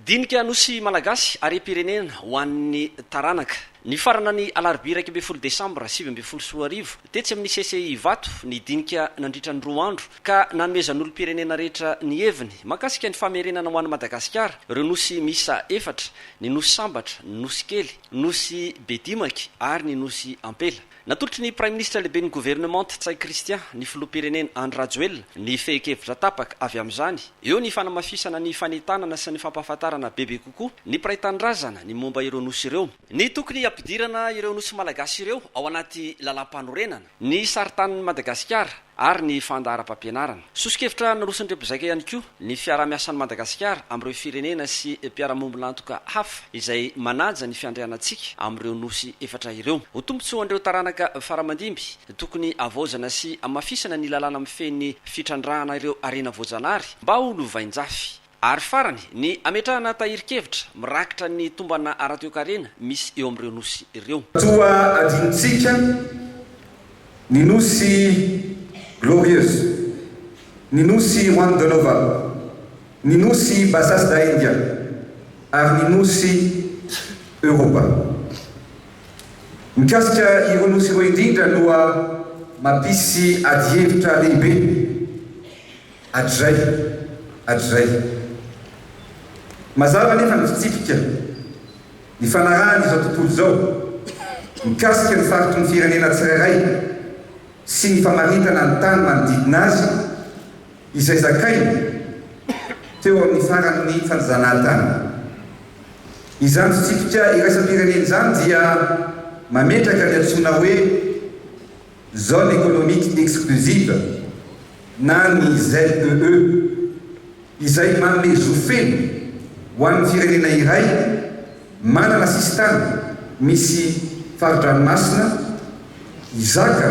Dinika Nosy Malagasy, harem-pirenena ho an'ny taranaka. Nifarana ny alarobia iraika ambin'ny folo desambra sivy ambin'ny folo sy roa arivo, tetsy amin'ny CCI Ivato, ny dinika nandritra ny roa andro, ka nanomezan'olom-pirenena rehetra ny heviny mahakasika ny famerenana ho an'i Madagasikara ireo nosy miisa efatra, ny Nosy Sambatra, ny Nosy Kely, Nosy Bedimaky ary ny Nosy Ampela. Natolotry ny Praiminisitra Lehiben'ny Governemanta Ntsay Christian ny Filoham-pirenena Andry Rajoelina ny fehin-kevitra tapaka avy amin'izany eo ny fanamafisana ny fanentanana sy ny fampahafantarana bebe kokoa ny mpiray tanindrazana ny momba ireo nosy ireo, ny tokony hampidirana ireo nosy malagasy ireo ao anaty lalàmpanorenana, ny saritanin'i Madagasikara. ary ny fandaharam-pampianarana. Soso-kevitra naroson'ireo mpizaika ihany koa ny fiaraha-miasan'i Madagasikara amin'ireo firenena sy mpiara-miombon'antoka hafa izay manaja ny fiandrianantsika amin'ireo Nosy efatra ireo. Ho tombontsoan'ireo taranaka faramandimby, tokony havaozana sy hamafisana ny lalàna mifehy ny fitrandrahana ireo harena voajanahary mba ho lovain-jafy. Ary farany, ny hametrahana tahirin-kevitra mirakitra ny tombana ara-toekarena misy eo amin'ireo nosy ireo. Toa adinontsika ny nosy Glorieuse, ny nosy Juan de Nova, ny nosy Bassas da India ary ny nosy Europa. Mikasika ireo nosy ireo indrindra no mampisy adihevitra lehibe Hatrizay, hatrizay. Mazava anefa ny fitsipika nifanarahan' izao tontolo izao mikasika ny faritry ny firenena tsirairay sy ny famaritana ny tany manodidina azy izay zakainy teo amin' ny faran' ny fanjanahatany. Izany fitsipika iraisam-pirenena izany dia mametraka ny antsoina hoe. Zone Economique Exclusive na ny ZEE, izay manome zo feno ho an'ny firenena iray manana sisintany misy fari-dranomasina hizaka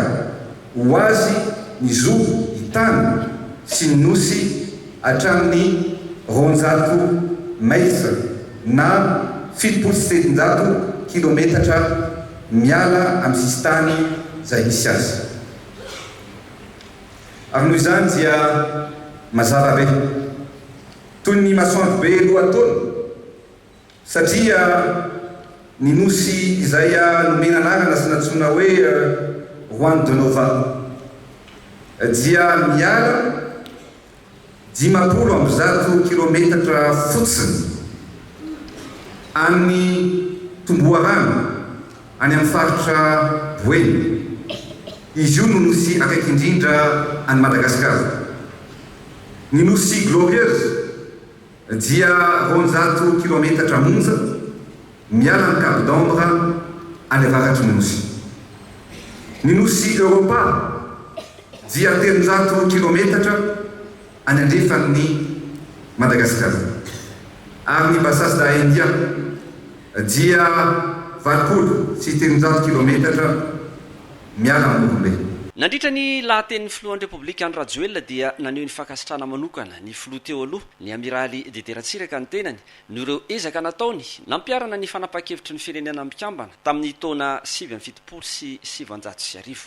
ho azy ny zo hitàna sy ny nosy hatramin'ny roanjato mètres na fitopolo sy sivinjato kilometatra Miala amin'ny sisintany izay nisy azy. Ary noho izany dia mazava be. Toy ny masoandro be lohataona. Satria ny nosy izay nomena anarana sy nantsoina hoe Juan de Nova dia miala. Dimampolo amby zato kilometatra fotsiny any Tomboharano, any amin'ny faritra Boeny. Izy io no nosy akaiky indrindra an'i Madagasikara. Ny nosy Glorieuse. Dia roanjato kilometatra monja miala ny Cap d'Ambre any avaratry ny nosy. Ny nosy Europa dia telonjato kilometatra any andrefan'i Madagasikara. Ary ny Bassas da India dia valopolo sy telonjato kilometatra Miala amin'ny olombe. Nandritra ny lahatenin'ny filohan'ny Repoblika Andry Rajoelina dia naneho ny fankasitrahana manokana ny filoha teo aloha, ny Amiraly Didier Ratsiraka ny tenany noho ireo ezaka nataony nampiharana ny fanapahan-kevitry ny Firenena Mikambana tamin'ny taona sivy amby fitopolo sy sivinjato sy arivo.